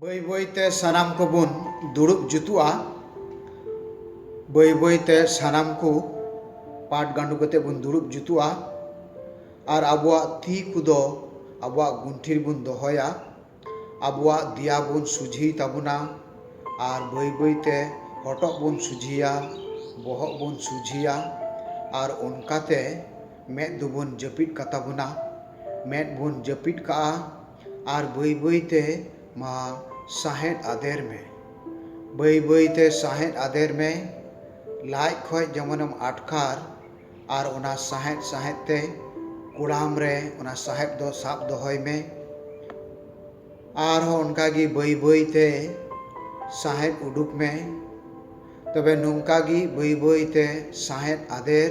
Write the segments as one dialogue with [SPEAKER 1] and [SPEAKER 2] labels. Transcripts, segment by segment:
[SPEAKER 1] ᱵᱟᱹᱭ ᱵᱟᱹᱭ ᱛᱮ ᱥᱟᱱᱟᱢ ᱠᱚᱵᱚᱱ ᱫᱩᱲᱩᱵ ᱡᱩᱛᱩᱜᱼᱟ ᱵᱟᱹᱭ ᱵᱟᱹᱭ ᱛᱮ ᱥᱟᱱᱟᱢ ᱠᱚ ᱯᱟᱴ ᱜᱟᱸᱰᱚ ᱠᱟᱛᱮ ᱵᱚᱱ ᱫᱩᱲᱩᱵ ᱡᱩᱛᱩᱜᱼᱟ ᱟᱨ ᱟᱵᱚᱣᱟᱜ ᱛᱤ ᱠᱚᱫᱚ ᱟᱵᱚᱣᱟᱜ ᱜᱩᱱᱴᱷᱤ ᱨᱮᱵᱚᱱ ᱫᱚᱦᱚᱭᱟ ᱟᱵᱚᱣᱟᱜ ᱫᱮᱭᱟ ᱵᱚᱱ ᱥᱚᱡᱷᱮᱭ ᱛᱟᱵᱚᱱᱟ ᱟᱨ ᱵᱟᱹᱭ ᱵᱟᱹᱭ ᱛᱮ ᱦᱚᱴᱚᱜ ᱵᱚᱱ ᱥᱚᱡᱷᱮᱭᱟ ᱵᱚᱦᱚᱜ ᱵᱚᱱ ᱥᱚᱡᱷᱮᱭᱟ ᱟᱨ ᱚᱱᱠᱟᱛᱮ ᱢᱮᱫ ᱫᱚᱵᱚᱱ ᱡᱟᱹᱯᱤᱫ ᱠᱟᱛᱟ ᱵᱚᱱᱟ ᱢᱮᱫ ᱵᱚᱱ ᱡᱟᱹᱯᱤᱫ ᱠᱟᱜᱼᱟ ᱟᱨ ᱵᱟᱹᱭ ᱵᱟᱹᱭ ᱛᱮ ᱢᱟ ᱥᱟᱸᱦᱮᱫ ᱟᱫᱮᱨ ᱢᱮ᱾ ᱵᱟᱹᱭ ᱵᱟᱹᱭ ᱛᱮ ᱥᱟᱸᱦᱮᱫ ᱟᱫᱮᱨ ᱢᱮ᱾ ᱞᱟᱡ ᱠᱷᱚᱡ ᱡᱮᱢᱚᱱᱮᱢ ᱟᱴᱠᱟᱨ ᱟᱨ ᱚᱱᱟ ᱥᱟᱸᱦᱮᱫ ᱥᱟᱸᱦᱮᱫ ᱛᱮ ᱠᱚᱲᱟᱢ ᱨᱮ ᱚᱱᱟ ᱥᱟᱸᱦᱮᱫ ᱫᱚ ᱥᱟᱵ ᱫᱚᱦᱚᱭ ᱢᱮ᱾ ᱟᱨ ᱦᱚᱸ ᱚᱱᱠᱟ ᱜᱮ ᱵᱟᱹᱭ ᱵᱟᱹᱭ ᱛᱮ ᱥᱟᱸᱦᱮᱫ ᱩᱰᱩᱠ ᱢᱮ᱾ ᱛᱚᱵᱮ ᱱᱚᱝᱠᱟ ᱜᱮ ᱵᱟᱹᱭ ᱵᱟᱹᱭ ᱛᱮ ᱥᱟᱸᱦᱮᱫ ᱟᱫᱮᱨ᱾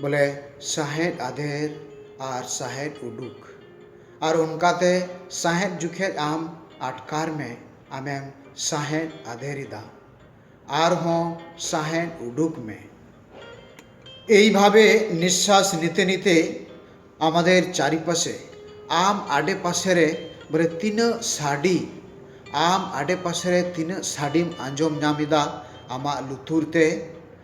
[SPEAKER 1] ᱵᱚᱞᱮ ᱥᱟᱸᱦᱮᱫ ᱟᱫᱮᱨ ᱟᱨ ᱥᱟᱸᱦᱮᱫ ᱩᱰᱩᱠ ᱟᱨ ᱚᱱᱠᱟᱛᱮ ᱥᱟᱸᱦᱮᱫ ᱡᱚᱠᱷᱮᱡ ᱟᱢ ᱟᱴᱠᱟᱨ ᱢᱮ ᱟᱢᱮᱢ ᱥᱟᱸᱦᱮᱫ ᱟᱫᱮᱨ ᱮᱫᱟ ᱟᱨᱦᱚᱸ ᱥᱟᱸᱦᱮᱫ ᱩᱰᱩᱠ ᱢᱮ᱾ ᱮᱭᱵᱷᱟᱵᱮ ᱱᱤᱥᱥᱟᱥ ᱱᱤᱛᱮ ᱱᱤᱛᱮ ᱟᱢᱟᱫᱮᱨ ᱪᱟᱨᱤᱯᱟᱥᱮ ᱟᱢ ᱟᱰᱮ ᱯᱟᱥᱮ ᱨᱮ ᱵᱚᱞᱮ ᱛᱤᱱᱟᱹᱜ ᱥᱟᱰᱮ ᱟᱢ ᱟᱰᱮ ᱯᱟᱥᱮ ᱨᱮ ᱛᱤᱱᱟᱹᱜ ᱥᱟᱰᱮᱢ ᱟᱸᱡᱚᱢ ᱧᱟᱢ ᱮᱫᱟ ᱟᱢᱟᱜ ᱞᱩᱛᱩᱨ ᱛᱮ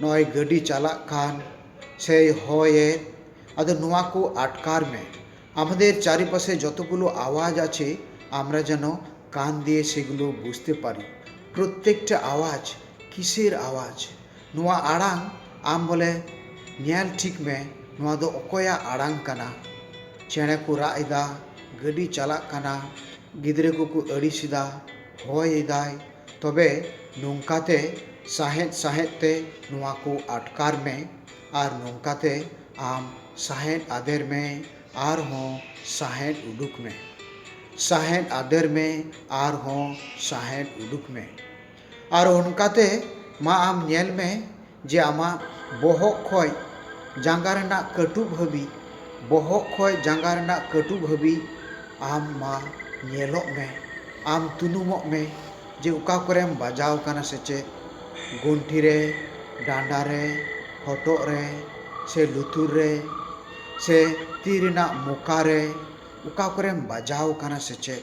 [SPEAKER 1] ᱱᱚᱜᱼᱚᱭ ᱜᱟᱹᱰᱤ ᱪᱟᱞᱟᱜ ᱠᱟᱱ ᱥᱮᱭ ᱦᱚᱭᱮᱫ ᱟᱫᱚ ᱱᱚᱣᱟ ᱠᱚ ᱟᱴᱠᱟᱨ ᱢᱮ ᱟᱢᱟᱫᱮᱨ ᱪᱟᱨᱤ ᱯᱟᱥᱮ ᱡᱚᱛᱚ ᱜᱩᱞᱳ ᱟᱣᱟᱡᱽ ᱟᱪᱷᱮ ᱟᱢᱨᱟ ᱡᱮᱱᱳ ᱠᱟᱱ ᱫᱤᱭᱮ ᱥᱮᱜᱩᱞᱳ ᱵᱩᱡᱽᱛᱮ ᱯᱟᱨᱤ ᱯᱨᱚᱛᱮᱠᱴᱟ ᱟᱣᱟᱡᱽ ᱠᱤᱥᱮᱨ ᱟᱣᱟᱡᱽ ᱱᱚᱣᱟ ᱟᱲᱟᱝ ᱟᱢ ᱵᱚᱞᱮ ᱧᱮᱞ ᱴᱷᱤᱠ ᱢᱮ ᱱᱚᱣᱟ ᱫᱚ ᱚᱠᱚᱭᱟᱜ ᱟᱲᱟᱝ ᱠᱟᱱᱟ ᱪᱮᱬᱮ ᱠᱚ ᱨᱟᱜ ᱮᱫᱟ ᱜᱟᱹᱰᱤ ᱪᱟᱞᱟᱜ ᱠᱟᱱᱟ ᱜᱤᱫᱽᱨᱟᱹ ᱠᱚᱠᱚ ᱟᱹᱲᱤᱥ ᱮᱫᱟ ᱦᱚᱭ ᱮᱫᱟᱭ ᱛᱚᱵᱮ ᱱᱚᱝᱠᱟ ᱛᱮ ᱥᱟᱸᱦᱮᱫ ᱥᱟᱸᱦᱮᱫ ᱛᱮ ᱱᱚᱣᱟ ᱠᱚ ᱟᱴᱠᱟᱨ ᱢᱮ ᱟᱨ ᱱᱚᱝᱠᱟ ᱛᱮ ᱟᱢ ᱥᱟᱸᱦᱮᱫ ᱟᱫᱮᱨ ᱢᱮ ᱟᱨ ᱦᱚᱸ ᱥᱟᱸᱦᱮᱫ ᱩᱰᱩᱠ ᱢᱮ᱾ ᱥᱟᱸᱦᱮᱫ ᱟᱫᱮᱨ ᱢᱮ ᱟᱨ ᱦᱚᱸ ᱥᱟᱸᱦᱮᱫ ᱩᱰᱩᱠ ᱢᱮ᱾ ᱟᱨ ᱚᱱᱠᱟ ᱛᱮ ᱢᱟ ᱟᱢ ᱧᱮᱞ ᱢᱮ ᱡᱮ ᱟᱢᱟᱜ ᱵᱚᱦᱚᱜ ᱠᱷᱚᱡ ᱡᱟᱸᱜᱟ ᱨᱮᱱᱟᱜ ᱠᱟᱹᱴᱩᱵ ᱦᱟᱹᱵᱤᱡ, ᱵᱚᱦᱚᱜ ᱠᱷᱚᱡ ᱡᱟᱸᱜᱟ ᱨᱮᱱᱟᱜ ᱠᱟᱹᱴᱩᱵ ᱦᱟᱹᱵᱤᱡ ᱟᱢ ᱢᱟ ᱧᱮᱞᱚᱜ ᱢᱮ, ᱟᱢ ᱛᱩᱱᱩᱢᱚᱜ ᱢᱮ ᱡᱮ ᱚᱠᱟ ᱠᱚᱨᱮᱢ ᱵᱟᱡᱟᱣ ᱟᱠᱟᱱᱟ ᱥᱮ ᱪᱮᱫ, ᱜᱚᱱᱴᱷᱤ ᱨᱮ, ᱰᱟᱸᱰᱟ ᱨᱮ, ᱦᱚᱴᱚᱜ ᱨᱮ ᱥᱮ ᱞᱩᱛᱩᱨ ᱨᱮ ᱥᱮ ᱛᱤ ᱨᱮᱱᱟᱜ ᱢᱚᱠᱟ ᱨᱮ ᱚᱠᱟ ᱠᱚᱨᱮᱢ ᱵᱟᱡᱟᱣ ᱟᱠᱟᱱᱟ ᱥᱮ ᱪᱮᱫ᱾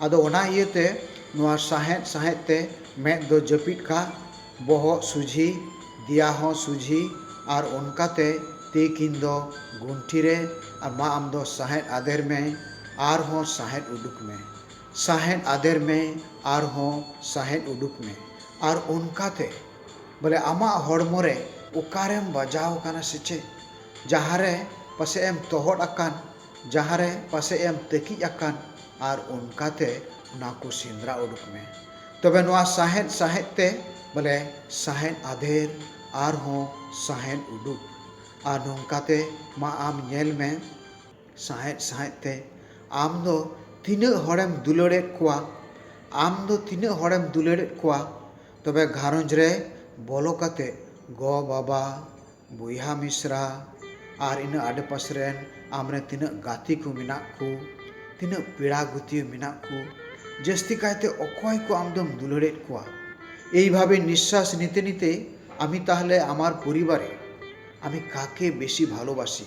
[SPEAKER 1] ᱟᱫᱚ ᱚᱱᱟ ᱤᱭᱟᱹ ᱛᱮ ᱱᱚᱣᱟ ᱥᱟᱸᱦᱮᱫ ᱥᱟᱸᱦᱮᱫ ᱛᱮ ᱢᱮᱫ ᱫᱚ ᱡᱟᱹᱯᱤᱫ ᱠᱟᱜ, ᱵᱚᱦᱚᱜ ᱥᱩᱡᱷᱤ, ᱫᱮᱭᱟ ᱦᱚᱸ ᱥᱩᱡᱷᱤ ᱟᱨ ᱚᱱᱠᱟ ᱛᱮ ᱛᱤ ᱠᱤᱱ ᱫᱚ ᱜᱩᱱᱴᱷᱤ ᱨᱮ ᱟᱨ ᱢᱟ ᱟᱢ ᱫᱚ ᱥᱟᱸᱦᱮᱫ ᱟᱫᱮᱨ ᱢᱮ ᱟᱨ ᱦᱚᱸ ᱥᱟᱸᱦᱮᱫ ᱩᱰᱩᱠ ᱢᱮ᱾ ᱥᱟᱸᱦᱮᱫ ᱟᱫᱮᱨ ᱢᱮ ᱟᱨ ᱦᱚᱸ ᱥᱟᱸᱦᱮᱫ ᱩᱰᱩᱠ ᱢᱮ ᱟᱨ ᱚᱱᱠᱟ ᱛᱮ ᱵᱚᱞᱮ ᱟᱢᱟᱜ ᱦᱚᱲᱢᱚ ᱨᱮ ᱚᱠᱟ ᱨᱮᱢ ᱵᱟᱡᱟᱣ ᱟᱠᱟᱱᱟ ᱥᱮ ᱪᱮᱫ ᱡᱟᱦᱟᱸ ᱨᱮ ᱯᱟᱥᱮᱡ ᱮᱢ ᱛᱚᱦᱚᱫ ᱟᱠᱟᱱ, ᱡᱟᱦᱟᱸ ᱨᱮ ᱯᱟᱥᱮᱡ ᱮᱢ ᱛᱟᱹᱠᱤᱡ ᱟᱠᱟᱱ ᱟᱨ ᱚᱱᱠᱟ ᱛᱮ ᱚᱱᱟ ᱠᱚ ᱥᱮᱸᱫᱽᱨᱟ ᱩᱰᱩᱠ ᱢᱮ᱾ ᱛᱚᱵᱮ ᱱᱚᱶᱟ ᱥᱟᱸᱦᱮᱫ ᱥᱟᱸᱦᱮᱫ ᱛᱮ ᱵᱚᱞᱮ ᱥᱟᱸᱦᱮᱫ ᱟᱫᱷᱮᱨ ᱟᱨ ᱦᱚᱸ ᱥᱟᱸᱦᱮᱫ ᱩᱰᱩᱠ ᱟᱨ ᱱᱚᱝᱠᱟ ᱛᱮ ᱢᱟ ᱟᱢ ᱧᱮᱞ ᱢᱮ ᱥᱟᱸᱦᱮᱫ ᱥᱟᱸᱦᱮᱫ ᱛᱮ ᱟᱢ ᱫᱚ ᱛᱤᱱᱟᱹᱜ ᱦᱚᱲᱮᱢ ᱫᱩᱞᱟᱹᱲᱮᱫ ᱠᱚᱣᱟ ᱟᱢ ᱫᱚ ᱛᱤᱱᱟᱹᱜ ᱦᱚᱲᱮᱢ ᱫᱩᱞᱟᱹᱲᱮᱫ ᱠᱚᱣᱟ ᱛᱚᱵᱮ ᱜᱷᱟᱨᱚᱸᱡᱽ ᱨᱮ ᱵᱚᱞᱚ ᱠᱟᱛᱮ ᱜᱚ ᱵᱟᱵᱟ ᱵᱚᱭᱦᱟ ᱢᱤᱥᱨᱟ ᱟᱨ ᱤᱱᱟᱹ ᱟᱰᱮ ᱯᱟᱥᱮ ᱨᱮᱱ ᱟᱢ ᱨᱮᱱ ᱛᱤᱱᱟᱹᱜ ᱜᱟᱛᱮ ᱠᱚ ᱢᱮᱱᱟᱜ ᱠᱚ ᱛᱤᱱᱟᱹᱜ ᱯᱮᱲᱟ ᱜᱟᱹᱛᱭᱟᱹ ᱢᱮᱱᱟᱜ ᱠᱚ ᱡᱟᱹᱥᱛᱤ ᱠᱟᱭᱛᱮ ᱚᱠᱚᱭ ᱠᱚ ᱟᱢ ᱫᱚᱢ ᱫᱩᱞᱟᱹᱲᱮᱫ ᱠᱚᱣᱟ ᱮᱭ ᱵᱷᱟᱵᱮ ᱱᱤᱥᱥᱟᱥ ᱱᱤᱛᱮ ᱱᱤᱛᱮ ᱟᱢᱤ ᱛᱟᱦᱚᱞᱮ ᱟᱢᱟᱨ ᱯᱚᱨᱤᱵᱟᱨᱮ ᱟᱢᱤ ᱠᱟᱠᱮ ᱵᱮᱥᱤ ᱵᱷᱟᱞᱳᱵᱟᱥᱤ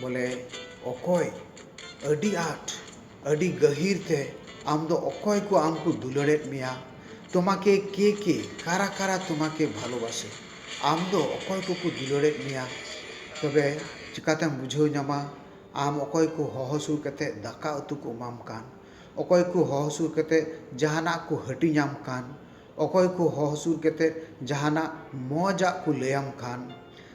[SPEAKER 1] ᱵᱚᱞᱮ ᱚᱠᱚᱭ ᱟᱹᱰᱤ ᱟᱸᱴ ᱟᱹᱰᱤ ᱜᱟᱹᱦᱤᱨ ᱛᱮ ᱟᱢ ᱫᱚ ᱚᱠᱚᱭ ᱠᱚ ᱟᱢ ᱠᱚ ᱫᱩᱞᱟᱹᱲᱮᱫ ᱢᱮᱭᱟ ᱛᱳᱢᱟᱠᱮ ᱠᱮ ᱠᱮ ᱠᱟᱨᱟ ᱠᱟᱨᱟ ᱛᱳᱢᱟᱠᱮ ᱵᱷᱟᱞᱳᱵᱟᱥᱮ ᱟᱢ ᱫᱚ ᱚᱠᱚᱭ ᱠᱚᱠᱚ ᱫᱩᱞᱟᱹᱲᱮᱫ ᱢᱮᱭᱟ ᱛᱚᱵᱮ ᱪᱤᱠᱟᱹᱛᱮᱢ ᱵᱩᱡᱷᱟᱹᱣ ᱧᱟᱢᱟ ᱟᱢ ᱚᱠᱚᱭ ᱠᱚ ᱦᱚᱦᱚ ᱥᱩᱨ ᱠᱟᱛᱮᱫ ᱫᱟᱠᱟ ᱩᱛᱩ ᱠᱚ ᱮᱢᱟᱢ ᱠᱟᱱ ᱚᱠᱚᱭ ᱠᱚ ᱦᱚᱦᱚ ᱥᱩᱨ ᱠᱟᱛᱮᱫ ᱡᱟᱦᱟᱱᱟᱜ ᱠᱚ ᱦᱟᱹᱴᱤᱧ ᱟᱢ ᱠᱟᱱ ᱚᱠᱚᱭ ᱠᱚ ᱦᱚᱦᱚ ᱥᱩᱨ ᱠᱟᱛᱮᱫ ᱡᱟᱦᱟᱱᱟᱜ ᱢᱚᱡᱽ ᱟᱜ ᱠᱚ ᱞᱟᱹᱭᱟᱢ ᱠᱟᱱ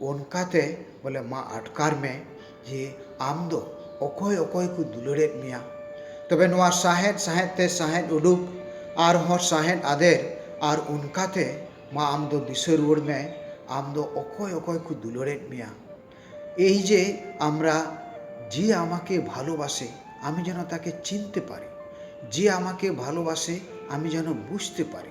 [SPEAKER 1] ᱚᱱᱠᱟᱛᱮ ᱵᱚᱞᱮ ᱢᱟ ᱟᱴᱠᱟᱨ ᱢᱮ ᱡᱮ ᱟᱢ ᱫᱚ ᱚᱠᱚᱭ ᱚᱠᱚᱭ ᱠᱚ ᱫᱩᱞᱟᱹᱲᱮᱫ ᱢᱮᱭᱟ᱾ ᱛᱚᱵᱮ ᱱᱚᱶᱟ ᱥᱟᱦᱮᱸᱫ ᱥᱟᱦᱮᱸᱫ ᱛᱮ ᱥᱟᱦᱮᱸᱫ ᱩᱰᱩᱠ ᱟᱨ ᱦᱚᱸ ᱥᱟᱦᱮᱸᱫ ᱟᱫᱮᱨ ᱟᱨ ᱚᱱᱠᱟᱛᱮ ᱢᱟ ᱟᱢ ᱫᱚ ᱫᱤᱥᱟᱹ ᱨᱩᱣᱟᱹᱲ ᱢᱮ ᱟᱢ ᱫᱚ ᱚᱠᱚᱭ ᱚᱠᱚᱭ ᱠᱚ ᱫᱩᱞᱟᱹᱲᱮᱫ ᱢᱮᱭᱟ᱾ ᱮᱭ ᱡᱮ ᱟᱢᱨᱟ ᱡᱮ ᱟᱢᱟᱠᱮ ᱵᱷᱟᱞᱳᱵᱟᱥᱮ ᱟᱢᱤ ᱡᱮᱱᱚ ᱛᱟᱠᱮ ᱪᱤᱱᱛᱮ ᱯᱟᱨᱤ ᱡᱮ ᱟᱢᱟᱠᱮ ᱵᱷᱟᱞᱳᱵᱟᱥᱮ ᱟᱢᱤ ᱡᱮᱱᱚ ᱵᱩᱡᱽᱛᱮ ᱯᱟᱨᱤ᱾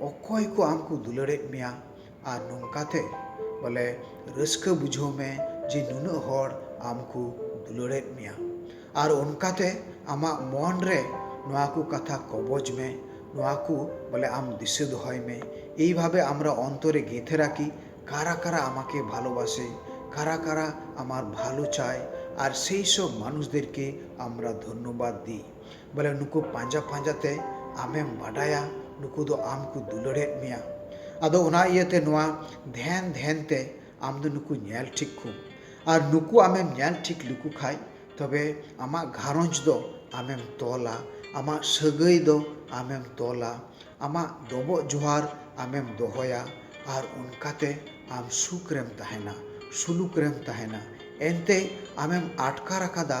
[SPEAKER 1] ᱚᱠᱚᱭ ᱠᱚ ᱟᱢ ᱠᱚ ᱫᱩᱞᱟᱹᱲᱮᱫ ᱢᱮᱭᱟ ᱟᱨ ᱱᱚᱝᱠᱟ ᱛᱮ ᱵᱚᱞᱮ ᱨᱟᱹᱥᱠᱟᱹ ᱵᱩᱡᱷᱟᱹᱣ ᱢᱮ ᱡᱮ ᱱᱩᱱᱟᱹᱜ ᱦᱚᱲ ᱟᱢ ᱠᱚ ᱫᱩᱞᱟᱹᱲᱮᱫ ᱢᱮᱭᱟ ᱟᱨ ᱚᱱᱠᱟ ᱛᱮ ᱟᱢᱟᱜ ᱢᱚᱱ ᱨᱮ ᱱᱚᱣᱟ ᱠᱚ ᱠᱟᱛᱷᱟ ᱠᱚᱵᱚᱡᱽ ᱢᱮ ᱱᱚᱣᱟ ᱠᱚ ᱵᱚᱞᱮ ᱟᱢ ᱫᱤᱥᱟᱹ ᱫᱚᱦᱚᱭ ᱢᱮ ᱮᱭ ᱵᱷᱟᱵᱮ ᱟᱢᱨᱟ ᱚᱱᱛᱚᱨᱮ ᱜᱮᱛᱷᱮ ᱨᱟᱠᱷᱤ ᱠᱟᱨᱟ ᱠᱟᱨᱟ ᱟᱢᱟᱠᱮ ᱵᱷᱟᱞᱳ ᱵᱟᱥᱮ ᱠᱟᱨᱟ ᱠᱟᱨᱟ ᱟᱢᱟᱨ ᱵᱷᱟᱞᱳ ᱪᱟᱭ ᱟᱨ ᱥᱮᱭ ᱥᱚᱵᱽ ᱢᱟᱱᱩᱥ ᱫᱮᱨᱠᱮ ᱟᱢᱨᱟ ᱫᱷᱚᱱᱱᱚᱵᱟᱫᱽ ᱫᱤ ᱵᱚᱞᱮ ᱱᱩᱠᱩ ᱯᱟᱸᱡᱟ ᱯᱟᱸᱡᱟ ᱛᱮ ᱟᱢᱮᱢ ᱵᱟᱰᱟᱭᱟ ᱱᱩᱠᱩ ᱫᱚ ᱟᱢ ᱠᱚ ᱫᱩᱞᱟᱹᱲᱮᱫ ᱢᱮᱭᱟ ᱟᱫᱚ ᱚᱱᱟ ᱤᱭᱟᱹᱛᱮ ᱱᱚᱣᱟ ᱫᱷᱮᱱ ᱫᱷᱮᱱ ᱛᱮ ᱟᱢ ᱫᱚ ᱱᱩᱠᱩ ᱧᱮᱞ ᱴᱷᱤᱠ ᱠᱚᱢ ᱟᱨ ᱱᱩᱠᱩ ᱟᱢᱮᱢ ᱧᱮᱞ ᱴᱷᱤᱠ ᱞᱮᱠᱚ ᱠᱷᱟᱱ ᱛᱚᱵᱮ ᱟᱢᱟᱜ ᱜᱷᱟᱨᱚᱸᱡᱽ ᱫᱚ ᱟᱢᱮᱢ ᱛᱚᱞᱟ ᱟᱢᱟᱜ ᱥᱟᱹᱜᱟᱹᱭ ᱫᱚ ᱟᱢᱮᱢ ᱛᱚᱞᱟ ᱟᱢᱟᱜ ᱰᱚᱵᱚᱜ ᱡᱚᱦᱟᱨ ᱟᱢᱮᱢ ᱫᱚᱦᱚᱭᱟ ᱟᱨ ᱚᱱᱠᱟᱛᱮ ᱟᱢ ᱥᱩᱠ ᱨᱮᱢ ᱛᱟᱦᱮᱱᱟ ᱥᱩᱞᱩᱠ ᱨᱮᱢ ᱛᱟᱦᱮᱱᱟ ᱮᱱᱛᱮ ᱟᱢᱮᱢ ᱟᱴᱠᱟᱨ ᱟᱠᱟᱫᱟ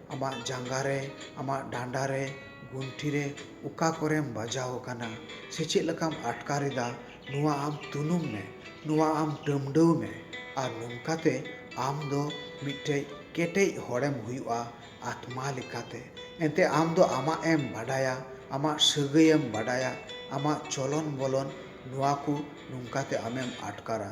[SPEAKER 1] ᱟᱢᱟᱜ ᱡᱟᱸᱜᱟ ᱨᱮ, ᱟᱢᱟᱜ ᱰᱟᱸᱰᱟ ᱨᱮ, ᱜᱩᱱᱴᱷᱤ ᱨᱮ ᱚᱠᱟ ᱠᱚᱨᱮᱢ ᱵᱟᱡᱟᱣ ᱟᱠᱟᱱᱟ ᱥᱮ ᱪᱮᱫ ᱞᱮᱠᱟᱢ ᱟᱴᱠᱟᱨ ᱮᱫᱟ ᱱᱚᱶᱟ ᱟᱢ ᱛᱩᱱᱩᱢ ᱢᱮ, ᱱᱚᱶᱟ ᱟᱢ ᱴᱟᱹᱢᱰᱟᱹᱣ ᱢᱮ ᱟᱨ ᱱᱚᱝᱠᱟ ᱛᱮ ᱟᱢ ᱫᱚ ᱢᱤᱫᱴᱮᱡ ᱠᱮᱴᱮᱡ ᱦᱚᱲᱮᱢ ᱦᱩᱭᱩᱜᱼᱟ ᱟᱛᱢᱟ ᱞᱮᱠᱟᱛᱮ᱾ ᱮᱱᱛᱮ ᱟᱢ ᱫᱚ ᱟᱢᱟᱜ ᱮᱢ ᱵᱟᱰᱟᱭᱟ, ᱟᱢᱟᱜ ᱥᱟᱹᱜᱟᱹᱭ ᱮᱢ ᱵᱟᱰᱟᱭᱟ, ᱟᱢᱟᱜ ᱪᱚᱞᱚᱱ ᱵᱚᱞᱚᱱ ᱱᱚᱶᱟ ᱠᱚ ᱱᱚᱝᱠᱟ ᱛᱮ ᱟᱢᱮᱢ ᱟᱴᱠᱟᱨᱟ᱾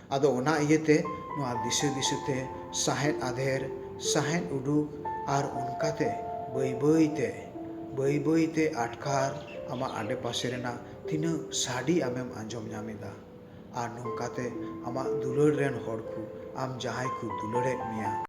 [SPEAKER 1] ᱟᱫᱚ ᱚᱱᱟ ᱤᱭᱟᱹ ᱛᱮ ᱱᱚᱶᱟ ᱫᱤᱥᱟᱹ ᱫᱤᱥᱟᱹ ᱛᱮ ᱥᱟᱸᱦᱮᱫ ᱟᱫᱷᱮᱨ, ᱥᱟᱸᱦᱮᱫ ᱩᱰᱩᱠ ᱟᱨ ᱚᱱᱠᱟ ᱛᱮ ᱵᱟᱹᱭ ᱵᱟᱹᱭ ᱛᱮ, ᱵᱟᱹᱭ ᱵᱟᱹᱭ ᱛᱮ ᱟᱴᱠᱟᱨ ᱟᱢᱟᱜ ᱟᱰᱮ ᱯᱟᱥᱮ ᱨᱮᱱᱟᱜ ᱛᱤᱱᱟᱹᱜ ᱥᱟᱰᱮ ᱟᱢᱮᱢ ᱟᱸᱡᱚᱢ ᱧᱟᱢ ᱮᱫᱟ᱾ ᱟᱨ ᱱᱚᱝᱠᱟ ᱛᱮ ᱟᱢᱟᱜ ᱫᱩᱞᱟᱹᱲ ᱨᱮᱱ ᱦᱚᱲ ᱠᱚ, ᱟᱢ ᱡᱟᱦᱟᱸᱭ ᱠᱚ ᱫᱩᱞᱟᱹᱲ ᱮᱫ ᱢᱮᱭᱟ᱾